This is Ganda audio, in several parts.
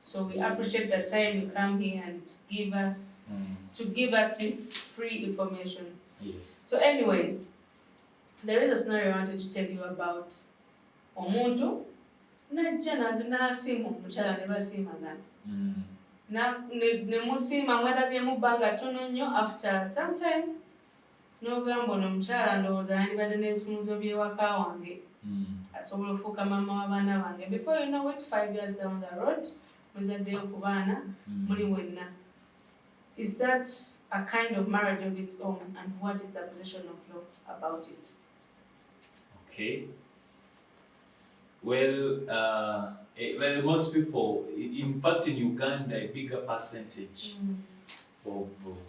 So we appreciate the time you come here and give us mm. to give us this free information. Yes. So anyways, there is a scenario I wanted to tell you about omuntu najja nasiima omukyala ne basiimagana mm. ne musiima mwalabyemu bbanga tono nnyo after sometime n'ogamba ono omukyala ndowooza yandibadde n'ebisumuluzo by'ewaka wange hmm. asobola ofuuka maama w'abaana bange before you know it five years down the road muzaddeyo ku baana hmm. muli wenna is that a kind of marriage of its own and what is the position of law about it okay well uh, eh, well most people in fact in uganda a bigger percentage mm. of uh,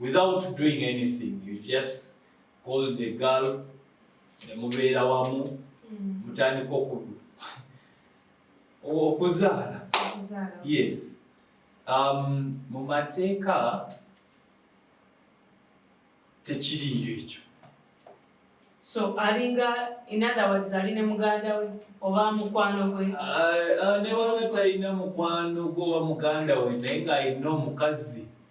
without doing anything you just call the girl nemubeera wamu mm. mutandika okudu okuzaala yes um, mu mateeka tekiriyo ekyo so alinga inotherwords ali ne muganda we oba mukwano gwe ah, ah, newana talina mukwano gwe oba muganda we naye nga alina omukazi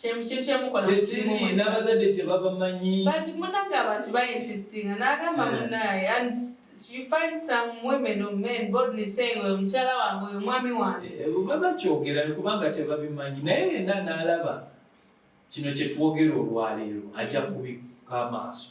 kyekiri n'abazadde tebabamanyi but munange abantu bainsistinga n'agamba eh. munaye and you find some women or men boldly saying oyo mukyala wange oyo mwami wange eh, eh, babakyogera kubanga tebabimanyi naye yenna n'alaba kino kyetwogera olwaleero ajja kubikka amaaso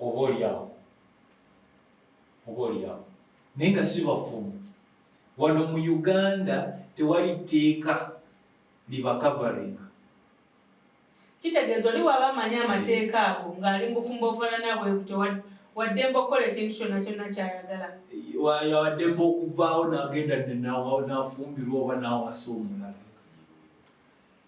oba olyawo oba olyawo naye nga si bafumu wano mu uganda tewali tteeka libakavaringa kitegeeza oli waaba amanyi amateeka ago ng'ali mubufumbo obufanana bwe butyo waddemba okukola ekintu kyonna kyonna kyayagala waddemba okuvaawo nagenda nafumbirwa oba nawasa omulala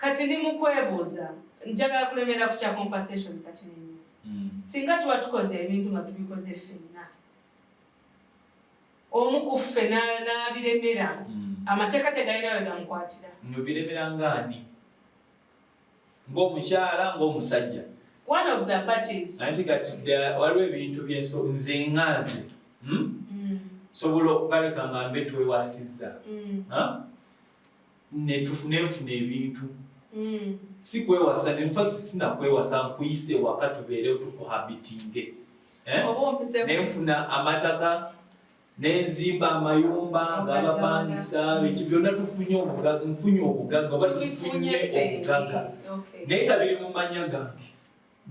Kati ndi mu kwebuuza njagala kulemera ku kya compensation kati nenye mm. singa tuba tukoze ebintu nga tubikoze ffenna omu ku ffe n'abiremera mm. amateeka tegalina we gamukwatira nobiremera ngaani ng'omukyala ng'omusajja one of the parties anti kati waliwo ebintu byenso nze nga nze hmm? mm. sobola okukaleka nga mbe twewasizza hmm? netufunefuna ebintu mm. si kwewasa infact sina kwewasa nkuyise waka tubeerewo tukuhabitinge eh? nenfuna amataka nenzimba amayumba ngabapangisa biki byonna tufunye obugaga nfunye obugaga oba tufunye obugaga naye nga biri mu manya gange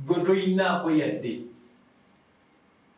gwe toyinaako yadde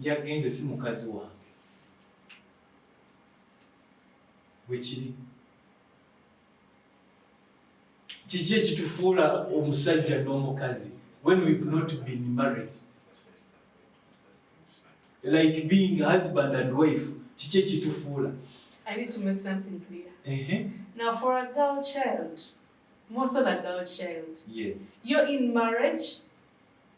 yagenze si mukazi wange bwekiri kiki ekitufuula omusajja n'omukazi when we've not been married like being husband and wife kiki ekitufuula I need to make something clear. Uh -huh. Now, for a girl child, most of the girl child, yes, you're in marriage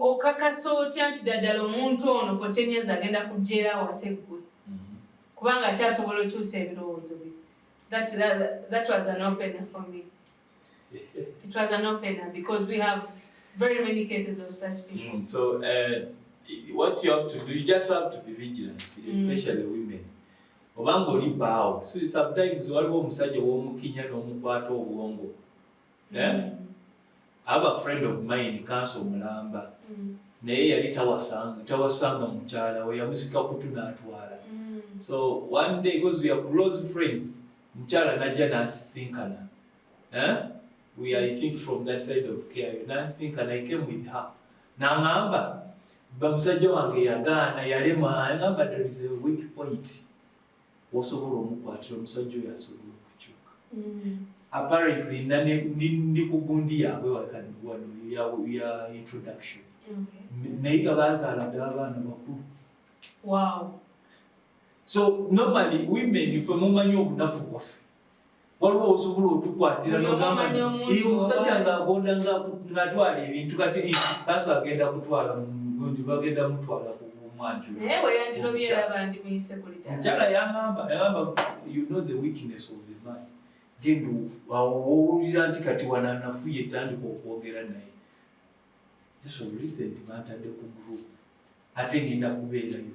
okakasa otya nti daddala omuntu ono for ten years agenda kujja era awase ggwe mm-hmm. kubanga akyasobola okyusa ebirowoozo bye that, that, that was an opener for me it was an opener because we have very many cases of such people mm, so uh, what you have to do you just have to be vigilant mm. especially mm. women obanga oli baawo so sometimes waliwo omusajja womukinya nomukwata obwongo eh? aba friend of mine kanso omulamba mm. naye yali tawasanga tawasanga mukyala we yamusika kutu n'atwala mm. so one day because we are close friends mukyala najja n'asisinkana eh? we are, I think from that side of care n'asisinkana i came with her n'aŋamba bamusajja wange yagaana yalema aŋamba there is a weak point wosobola omukwatira omusajja oyo asobola okukyuka mm. apparently ndi ku gundi yaabwe wakaniwano ya introduction naye nga bazaala ddala abaana bakulu so normally women fe mumanyi obunafu bwaffe waliwo osobola otukwatira nogamba nti omusajja ng'agonda ng'atwala ebintu kati kaso agenda kutwala mundi bagenda mutwala ku mwanjulaomukyala yamamba yamamba you know the weakness of the man genda owulira nti kati wananafuye tandika okwogera naye just of recent bantadde ku group ate ngenda kubeerayo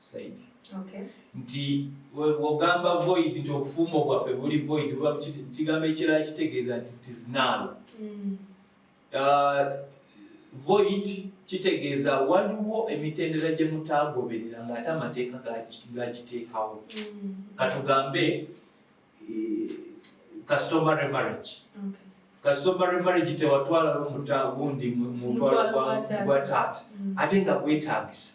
saidi okay. nti wogamba void nti obufumbo bwaffe buli void oba kigambo ekirala kitegeeza nti tiznaalo mm. uh, void kitegeeza waliwo emitendera gye mutaagoberera ng'ate amateeka gagiteekawo mm. katugambe eh, customary marriage okay. kasomare marriage tewatwala lumuta gundi mutwala gwa taata mm. ate nga gwetagisa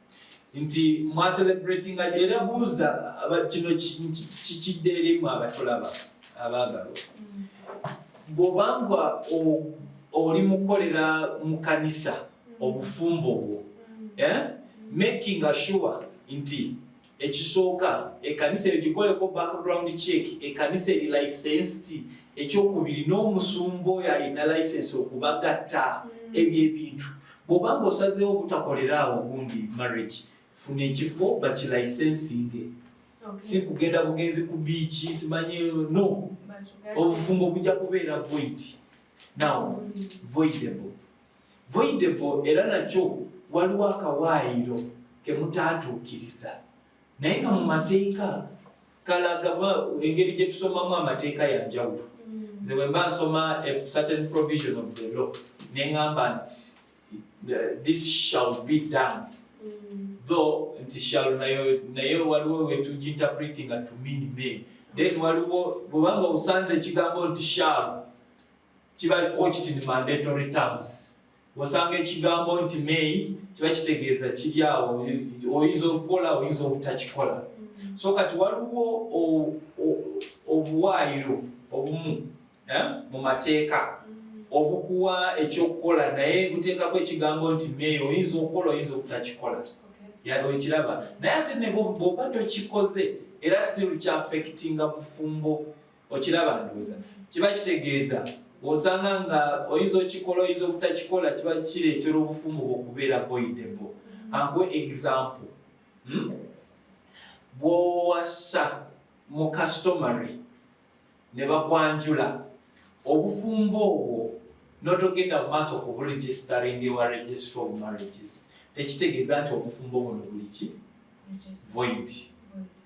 nti mwacelebratinga era buuza kino kikidde erimu abatulaba abaagalwa mm. bwobanga oli mukukolera mu kanisa mm. obufumbo bwo mm. eh, making assure nti Ekisooka, ekanisa eyo gikoleko background check, ekanisa eri licensed. Ekyokubiri, n'omusumba oyo alina license okubagatta mm. ebyo ebintu. Bwoba nga osazeewo obutakolera awo gundi marriage, funa ekifo bakilicensinge. Okay. Si kugenda bugenzi ku biiki, simanyi no. Obufumbo bujja kubeera void. Now, voidable. Voidepo era nakyo waliwo akawaayiro ke mutaatuukiriza naye nga mu mateeka kalaga engeri gye tusomamu amateeka ya njawulo mm. nze bwe mba nsoma a certain provision of the law ne ŋŋamba nti this shall be done mm. though nti shall nayo naye waliwo wetuginterpretinga to mean me then waliwo bwebanga osanze ekigambo nti shall kiba poached in mandatory terms osanga ekigambo nti may kiba kitegeeza kiri awo oyinza okukola oyinza obutakikola mm. so kati waliwo obuwaayiro obumu eh, mu mateeka mm. obukuwa ekyokukola naye buteekako ekigambo nti may oyinza okukola oyinza obutakikola okiraba naye ate nebwoba tokikoze era still kyafectinga bufumbo okiraba ndowooza kiba kitegeeza osanga nga oyinza okikola oyinza obutakikola kiba kireetera obufumu bwe okubeera voidebo anguwe example hmm? bwowasa mu customary ne bakwanjula obufumbo obwo notogenda mu maaso ku buregistering ewa registry of marriages tekitegeeza nti obufumbo buno buli ki void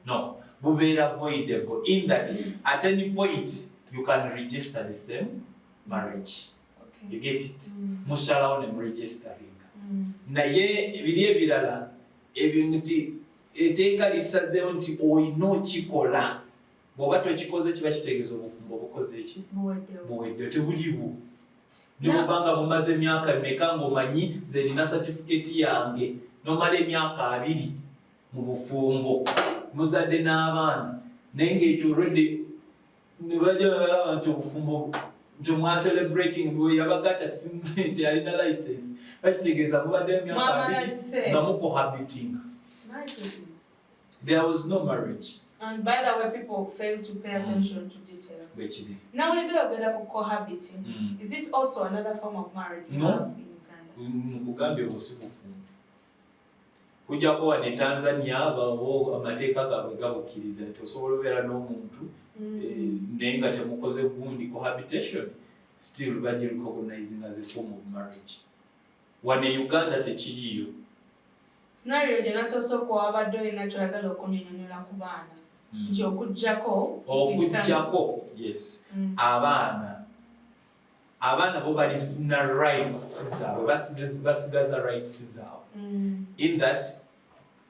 no bubeera voidable in that at any point you can register the same marriage okay. you get it mm. musalawo ne muregisteringa mm. naye ebiri ebirala ebyo nti eteeka lisazeewo nti olina okikola bw'oba tokikoze kiba kitegeeza obufumbo obukoze eki buweddewo tebuliwo nebwobanga bumaze emyaka meka ngaomanyi nze nina satifiketi yange nomala emyaka abiri mu bufumbo muzadde n'abaana naye ngaekyo redi nebajabalaba nti obufumbo nti mwacelebrating yabagata nti alina license bakitegeeza mubadde emyaka abiri nga mukohabitinga There was no marriage. And by the way, people fail to pay mm. attention mm. to details. Bechidi. Now, we do a cohabiting. Mm. Is it also another form of marriage? No. Mugambi was kujja kuba ne tanzania bawo amateeka gaabwe gabukkiriza nti osobola obeera n'omuntu mm. eh, naye nga temukoze gundi cohabitation still bagirecognizinga as a form of marriage Wano e Uganda tekiriiyo. Scenario gye nasoose okuwa wabadde olina ky'oyagala okunyonyonyola ku baana hmm. nti okuggyako okuggyako yes hmm. abaana abaana bo balina rights zaabwe basigaza rights zaabwe hmm. in that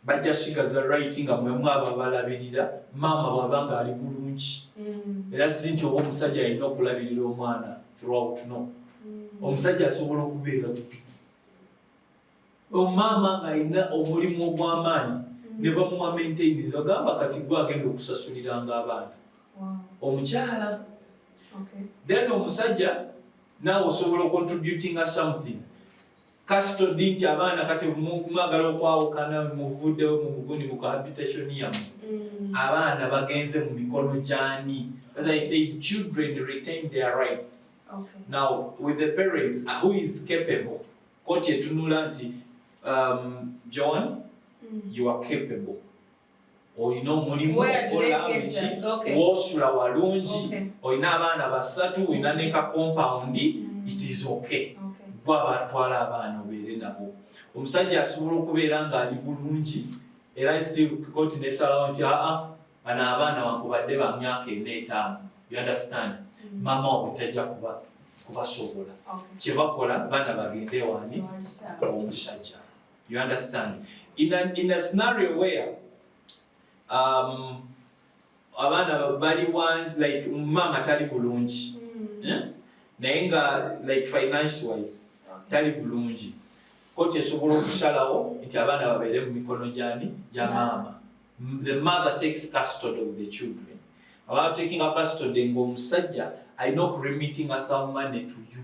bajja sigaza right nga mwemu abo abalabirira maama bwaba nga ali bulungi mm. era si nti oba omusajja alina okulabirira omwana throughout no mm. omusajja asobola okubeera bubi omaama ngaalina omulimu ogw'amaanyi mm. ne bamuwa maintainance agamba kati gwe agenda okusasuliranga abaana omukyala then omusajja naawe osobola ocontributinga something Kasito di nti abaana kati mwagala okwawukana muvuddewo mu buguni mu cohabitation yamu mm. abaana bagenze mu mikono gyani as i said children retain their rights okay. now with the parents uh, who is capable koti etunula nti um, john mm. you are capable olina omulimu wosula walungi olina abaana basatu olina ne ka compound mm. it is okay gwa batwala abaana obeere nabo omusajja asobola okubeera ng'ali bulungi era still koti nesalawo nti aa bano abaana wakubadde ba myaka ena etaano you understand mm. maama wabwe tajja kuba kubasobola kyebakola baana bagende wani omusajja You understand? In a, in a scenario where um, abaana bali wansi like maama tali bulungi mm. eh? naye nga like finance wise tali bulungi koti esobola okusalawo nti abaana babeere mu mikono gyani gya maama the mother takes custody of the children about taking a custody ngaomusajja alina okuremitting asamu money to you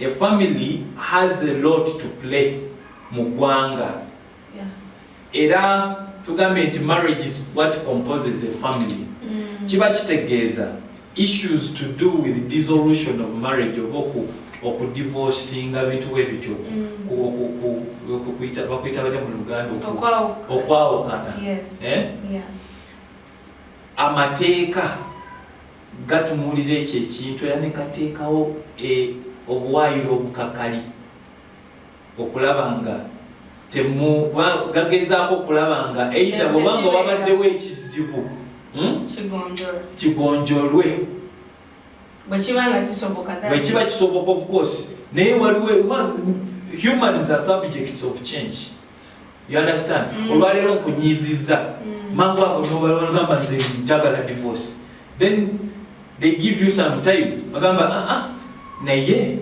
A family has a lot to play mu gwanga. Yeah. Era tugambye nti marriage is what composes a family. Mm. Kiba kitegeeza issues to do with dissolution of marriage oba oku okudivorcinga bintu bwe bityo bakuyita batya mu luganda okwawukana eh? amateeka Gatunuulira ekyo ekintu era ne gateekawo e, obuwaayiro obukakali okulaba nga temu, ba, gagezaako okulaba nga either bw'oba nga wabaddewo ekizibu hmm? kigonjolwe bwe kiba nga kisoboka bwe kiba kisoboka of course naye waliwo humans are subjects of change You understand? Mm. Olwaleero nkunyiizizza. Mm. Mangu ago nobalagamba nze njagala divorce. Then they give you some time. Bagamba ah ah naye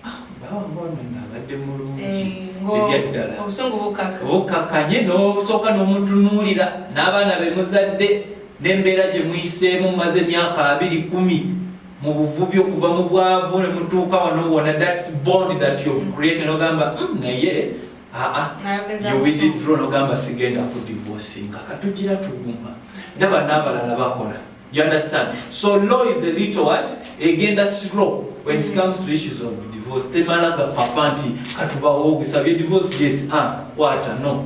ah bawa mbona nabadde mulungi. Eh, Ebyaddala. Obusungu bukaka. Bukakanye n'obusooka n'omutunuulira n'abaana be muzadde n'embeera gye muyiseemu maze emyaka abiri kumi. mu buvubi okuva mu bwavu ne mutuuka wano wona that bond that you have created ogamba mm, naye aa yowididro nogamba sigenda ku divorce nga katugira tuguma ndaba n'abalala bakola you understand so law is a little what egenda slow when it comes to issues of divorce temala gapapa nti katubawo ogusabye divorce yes ah, wata no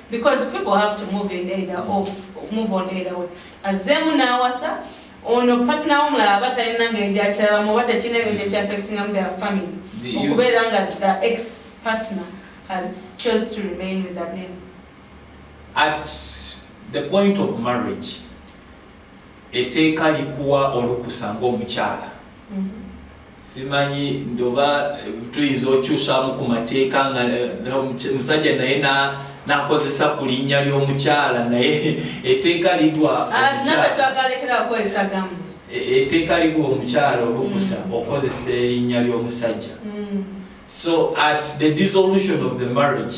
because people have to move in either of move on either way azemu nawasa ono partner omulala aba talina ngeri gyakyalamu oba tekirina ebyo gyekyafectingamu their family okubeera nga the ex partner has chose to remain with the man at the point of marriage Etteeka likuwa olukusa ng'omukyala. Simanyi nti oba tuyinza okyusaamu ku mateeka nga omusajja naye n'akozesa ku linnya ly'omukyala naye etteeka ligwa omukyala. etteeka liwa omukyala olukusa mm. okozesa erinnya ly'omusajja mm. so at the dissolution of the marriage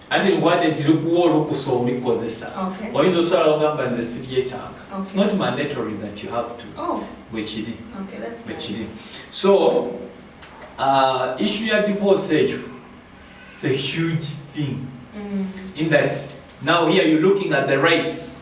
anti mugwade nti likuwa olukusa olikozesa oyinza osala ogamba nze siryetanga its not mandatory that you have to oh. bwekiri bwekiri so uh, issue ya divorce eyo its a huge thing mm. in that now here you looking at the rights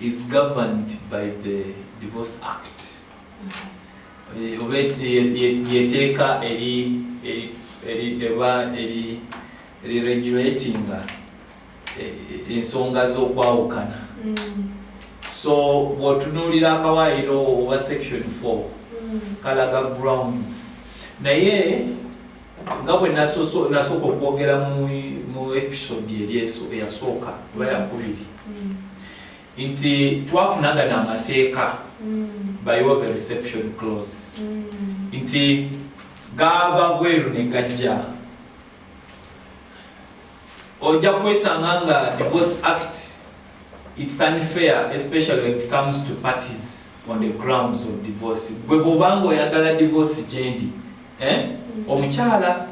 is governed by the divorce act eh, oba yeteeka eba eriregulatinga eh, ensonga z'okwawukana mm. so bwotunuulira akawaayiro oba section 4 mm. kalaga grounds naye nga bwe nasooka okwogera mu episode eri eyasooka oba yakubiri mm. nti twafunaga n'amateeka mm. bayiwa the reception close mm. nti gaava bweru ne gajja ojja kwesanga nga divorce act It's unfair especially when it comes to parties on the grounds of divorce. Gwe bwobanga oyagala divorce gyendi eh? Mm. omukyala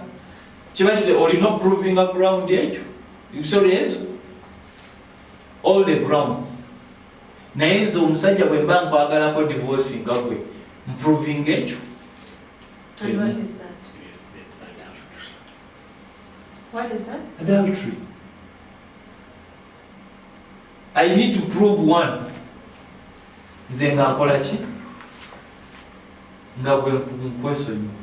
kiba kiri olina oprovinga ground ekyo ebisola ezo all the grounds naye nze omusajja bwe mba nkwagalako divorce nga gwe mproving ekyo adultery i need to prove one nze nga nkola ki nga gwe nkwesonyiwa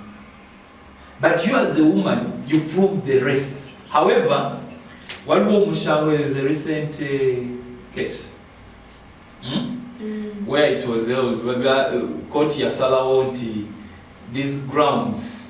but you as a woman you prove the rest however waliwo omushango is a recent uh, case hmm? mm. where it was held uh, koti yasalawo nti these grounds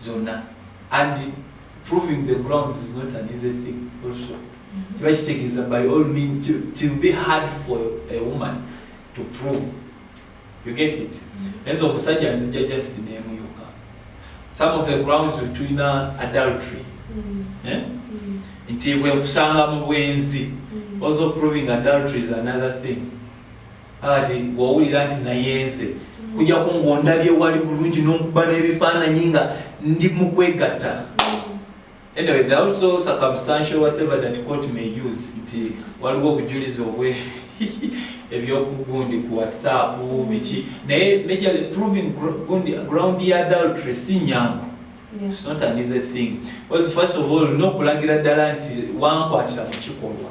zonna and proving the grounds is not an easy thing also mm-hmm. kiba kitegeeza by all means it will be hard for a woman to prove you get it mm-hmm. naye zo omusajja nzijja just nemu yokka some of the grounds tulina adultery mm-hmm. eh? nti bwenkusanga mu bwenzi also proving adultery is another thing Kati bw'owulira nti nayenze kujjako ng'ondabye wali bulungi n'okuba n'ebifaananyi nga ndi mu kwegatta mm. anyway there also circumstantial whatever that court may use nti waliwo obujulizi obwe ebyokugundi ku whatsapp mm. biki naye majorly proving ground ya adultery si nyangu it's not an easy thing because first of all n'okulagira ddala nti wankwatira ku kikolwa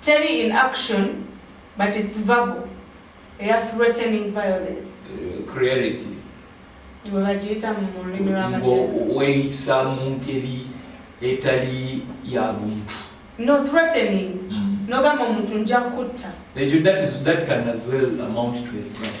Teri in action but it's verbal eya threatening violence. Uh, clarity. Iwe bagiyita mu lulimi lw'amateeka. Weeyisa mu ngeri etali ya buntu. No threatening. Mm. Nogamba omuntu nja kutta. That, that, is, that can as well amount to a threat.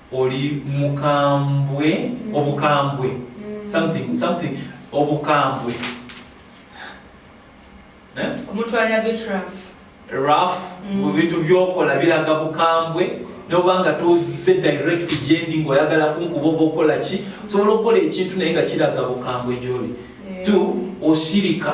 Oli mukambwe obukambwe something something obukambwe eh? omuntu ali a bit rough rough mm. mu bintu byokola biraga bukambwe nobanga tozze direct gyendi ngaoyagala kunkuba oba okola ki osobola okukola ekintu naye nga kiraga bukambwe gyoli eh. t osirika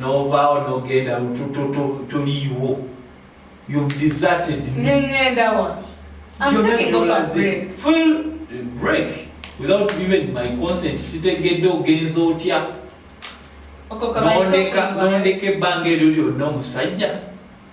novaawo nogenda toliiwo break without even my consent sitegedde ogenza otya nondeka ebbanga eryo lyonna omusajja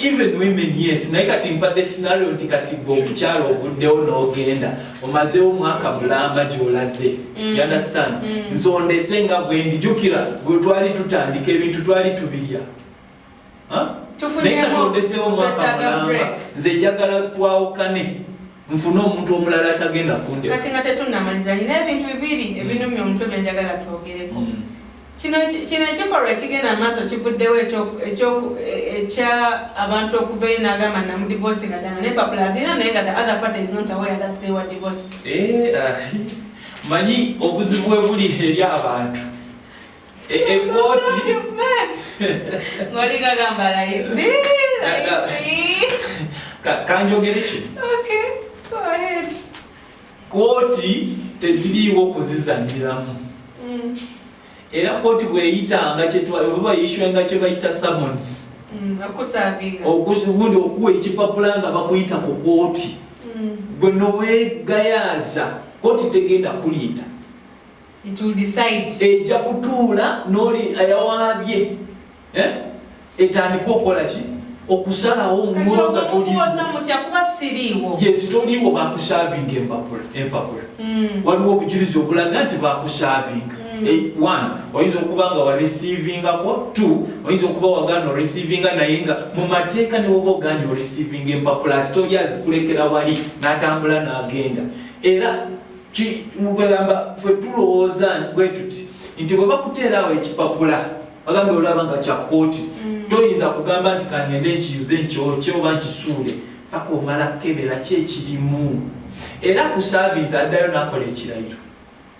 Even women yes naye kati mpadde scenario nti kati gwe omukyalo ovuddewo n'ogenda omazeewo omwaka mulamba gy'olaze mm. you understand mm. nsondese nga gwe ndijukira gwe twali tutandika ebintu twali tubirya naye kati ondeseewo omwaka mulamba nze njagala twawukane nfune omuntu omulala tagenda kunde kati nga tetunnamaliza nina ebintu bibiri mm. ebinumya omutwe byenjagala twogereko mm. kino kino ekikolwa ekigenda amaaso kivuddewo ekya abantu okuva eyo nagamba namudivosi nga dama naye papula azirina naye nga the other party is not aware that they were divorced eh, ah, manyi obuzibu bwe buli eri abantu E, e, ngoli kagamba layisi kanjogere kino kooti teziriiwo kuzizanyiramu mm. era kooti bweyitanga kyebayiswenga kyebayita summons mm, ogundi okuwa ekipapula nga bakuyita ku kooti mm. gwe nowegayaaza kooti tegenda kulinda It will decide. Eja kutuula noli ayawaabye. Eh? Etandika okola ki? Okusalawo mulo nga toliwo. Kuba siriiwo. Yes, toliwo bakusaavinga empapula. Empapula. Mm. Waliwo obujulizi obulaga nti bakusaavinga. Mm. Eh, one, oyinza okuba nga wa receivinga ko. Two, oyinza okuba wagana o receivinga naye nga mu mateeka ne woba oganye o receivinga empapula. Asitoli azikulekera wali n'atambula n'agenda. Era mugamba fe tulowooza bwetuti nti bwe bakuteera awo ekipapula bagamba olaba nga kya kkooti mm. toyinza kugamba nti kangende nkiyuze nkyokye oba nkisuule paka omala kukebera ki ekirimu era ku savinsi addayo n'akola ekirayiro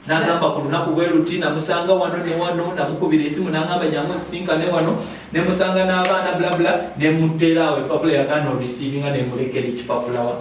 nagamba ku lunaku bwe luti namusanga wano ne wano namukubira esimu nagamba jangu nsisinkane wano nemusanga n'abaana bulabula nemuteeraawo epapula yagaana olisiibinga nemulekera ekipapulawa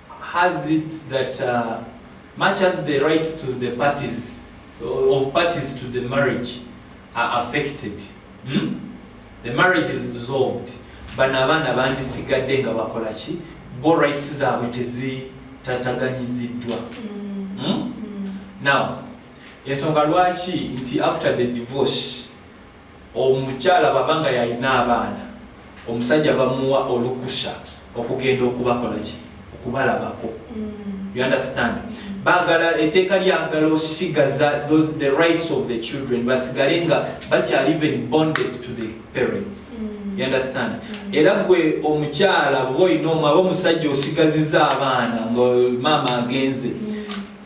has it that uh, much as the rights to the parties uh, of parties to the marriage are affected hmm? the marriage is dissolved bano abaana bandisigadde nga bakola ki bo rights zaabwe tezitataganyiziddwa mm. hmm? mm. now ensonga lwaki nti after the divorce Omukyala bwaba nga yalina abaana, omusajja bamuwa olukusa okugenda okubakolaki? Okubalabako. You understand? Bagala, eteeka lyagala osigaza those, the rights of the children, basigale nga bakyali even bonded to the parents. You understand? Era gwe omukyala bwoyina omwaba omusajja osigaziza abaana nga maama agenze.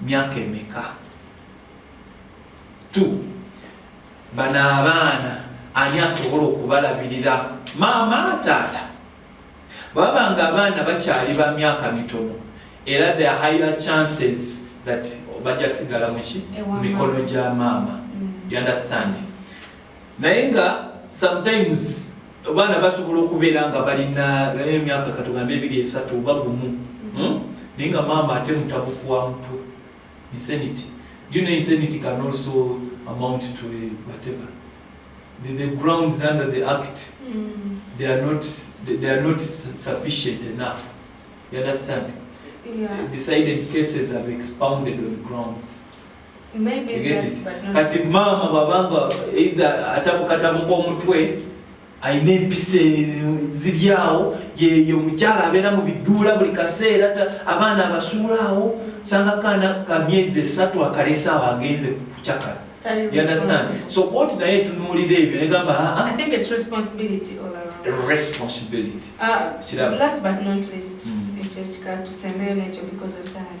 myaka emeka t bano abaana ani asobola okubalabirira maama taata baba nga abaana bakyali ba myaka mitono era the higher chances that bajasigala muki mikono gya maama mm. you understand naye nga sometimes abaana basobola okubeera nga balina emyaka katugambe ebiri esatu oba gumu hmm? naye nga maama ate mutabufu wa mutwe insanity do you know insanity can also amount to a whatever the, the grounds under the act mm. they are not they, they are not sufficient enough you understand yeah. decided cases have expounded on grounds kati maama bwabanga either atabukatabuka omutwe alina empisa ziryawo yeyo omukyala abeera mu biduula buli kaseera abaana abasuulaawo sanga kaana ka myezi esatu akalesaawo agenze kucakala so koti naye etunuulira ebyo negamba ah, ah. responsibility uh, last but not least mm. ekyo kika tusembeyo nekyo because of time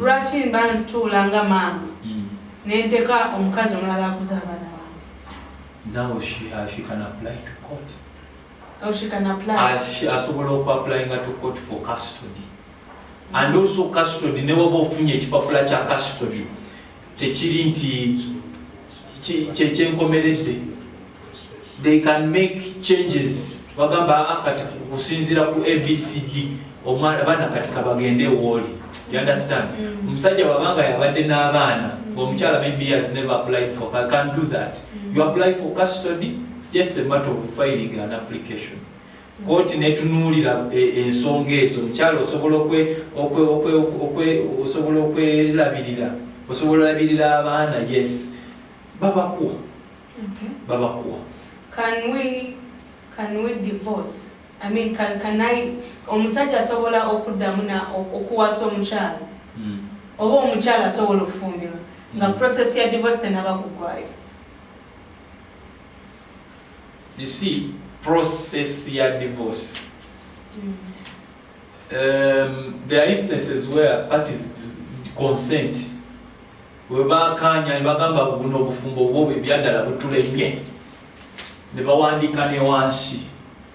Lwaki mba ntuula nga maama mm. ne nteka omukazi omulala akuza abaana bange? Now she, uh, she can apply to court. Oh, she can apply. Uh, she, asobola oku applying to court for custody. And also custody, ne waba ofunye ekipapula kya custody. tekiri nti kyekyenkomeredde they can make changes bagamba ah, kati kusinzira ku abcd omwana baana kati kabagende ewooli you understand mm. omusajja mm. wabanga yabadde n'abaana mm. omukyala maybe has never applied for I can do that mm. you apply for custody it's just a matter of filing an application Kkooti n'etunuulira ensonga ezo. Omukyala osobola osobola okwelabirira, osobola olabirira abaana, yes babakuwa babakuwa Can we, can we divorce? I mean, can, can I, omusajja asobola okuddamu na okuwasa omukyala hmm. oba omukyala asobola okufumbirwa nga hmm. process ya divorce tenaba kuggwayo you see process ya divorce mm. um, there are instances where parties consent webakanya nebagamba buno obufumbo bwobo ebyadala butulemye nebawandiika newansi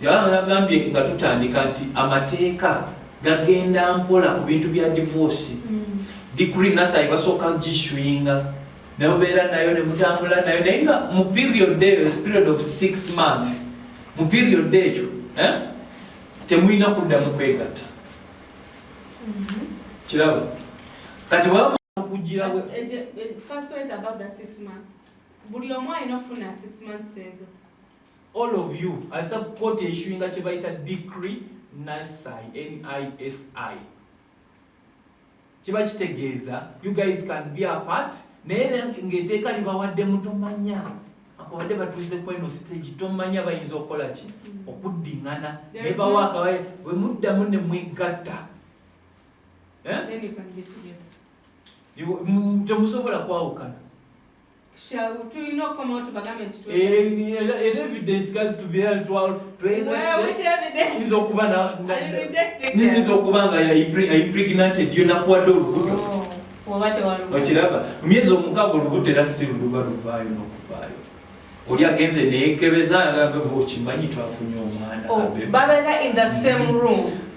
Yohana yagambye nga tutandika nti amateeka gagenda mpola ku bintu bya divoosi mm. digri nasayi basooka giswinga nemubeera nayo nemutambula nayo naye nga mu period eyo period of six month mu period eyo eh, temulina kuddamu kwegatta mm-hmm. kiraba kati okugirawe buli omu alina okufuna six months ezo All of you aza kkooti eshuinga kye bayita decree nisi nisi kiba kitegeeza you guys can be apart naye ngaeteeka libawadde mutomanya akabadde batuuze kweno stage tomanya bayinza okukola ki mm. okuddingana naye bawo akabaye bwe muddamu ne mwegatta eh? temusobola kwawukana tulina okukomawo tubagambe nti era evidence gazi tubeera twayinza okuba nyinza okuba nga yaiprignated yo nakuwadde olubuto oh, okiraba myezi omukaaga olubuto era siti luba luvaayo nokuvaayo oli agenze neyekebeza agambe okimanyi twafunye omwana oh, babeera in the same room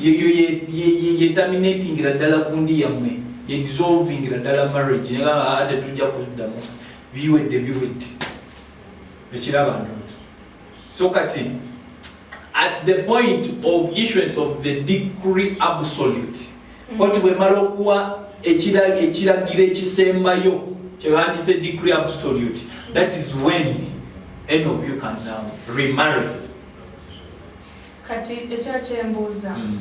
yeyo yetaminatingira ddala kundi yammwe yedisolvingira ddala marriage negaa ah, tetujja kuddamu biwedde biwedde ekiraba ndozi so kati at the point of issuance of the decree absolute mm. koti bwemala okuwa ekiragiro ekisembayo kyebandise decree absolute that is when any of you can now remarry kati ekyakyembuuza mm.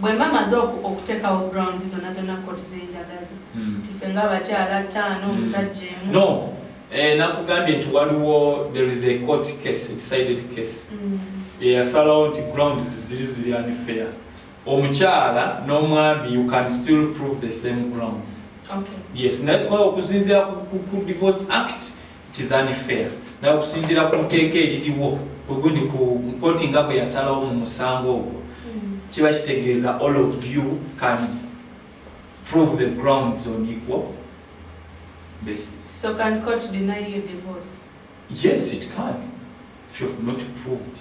bwemba maze okutekawo ground zona zona kot zenjagaza mm. tife nga abakyala taano mm. omusajja emu no eh, nakugambye nti waliwo there is a court case decided case eyasalawo nti ground ziri ziri unfair omukyala n'omwami you can still prove the same grounds okay. yes naye okusinzira ku divorce act It's unfair. Nawe okusinziira ku nteeka eririwo ugundi ku nkoti nga bwe yasalawo mu musango ogwo hmm. kiba kitegeeza all of you can prove the grounds on equal basis. So can court deny your divorce? Yes, it can. If you have not proved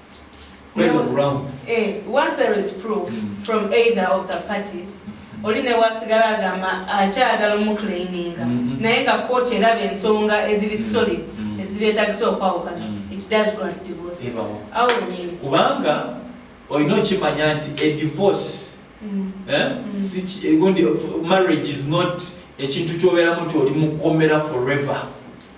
Eh, once there is proof mm. from either of the parties mm-hmm. oli ne wasigala agamba akyagala omuclaiminga mm-hmm. naye nga kooti eraba ensonga eziri mm-hmm. solid ezibeetagisa okwawukana it does grant divorce awo nyini kubanga olina okimanya nti a divorce mm. eh, mm. eh, marriage is not ekintu kyobeeramu nti oli mukomera forever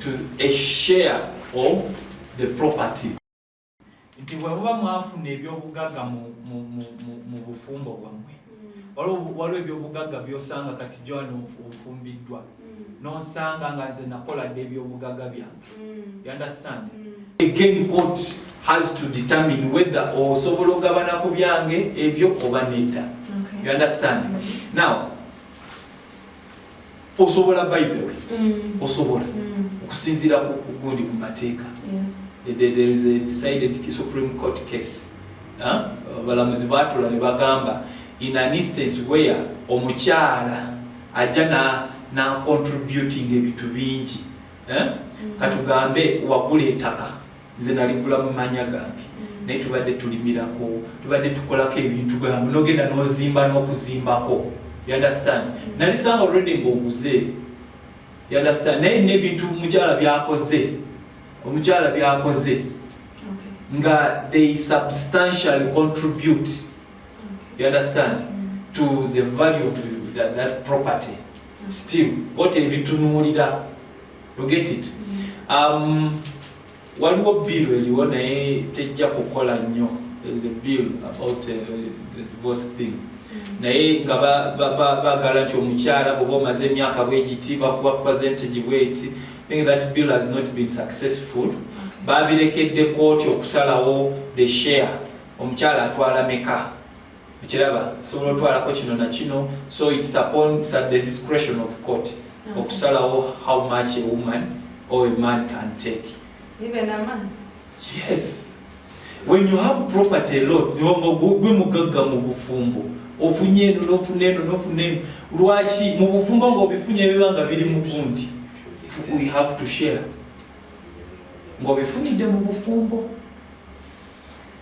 to a share of the property nti bwemuba mwafuna ebyobugagga mu bufumbo bwammwe mm. waliwo ebyobugagga byosanga kati joan ofumbiddwa mm. nosanga nga nze nakola dde ebyobugagga byange mm. you understand again court has to determine whether osobola okugabana ku byange ebyo oba nedda you understand now osobola by the way mm. osobola mm. okusinziira kugundi ku mateeka there is a decided supreme court case abalamuzi batula ne bagamba in an instance where omukyala ajja nacontributing ebintu bingi mm. katugambe wagula etaka Nze naligula mu manya gange naye tubadde tulimirako tubadde tukolako ebintu bwebambu nogenda nozimba nokuzimbako you understand nalisanga already ngaoguze you understand naye nebintu mukyala byakoze omukyala byakoze okay. nga they substantially contribute okay. you understand mm. to the value of that, that property mm. still kote ebitunuulira you get it um, waliwo bill eliwo naye tejja kukola nnyo the bill about uh, the divorce thing naye nga bagala nti omukyala bwoba omaze emyaka bwegiti bakuba presentegi bweti think that bill has not been successful babirekedde kooti okusalawo the share omukyala atwala meka okiraba osobola otwalako kino nakino so its upon the discretion of court okay. okusalawo how much a woman or a man can take Even a man? yes when you have property a lot gwe mugagga mu bufumbo ofunye eno nofuna eno nofuna eno lwaki mu bufumbo ngaobifunye ebiba nga biri mu bundi we have to share ngaobifunidde mu bufumbo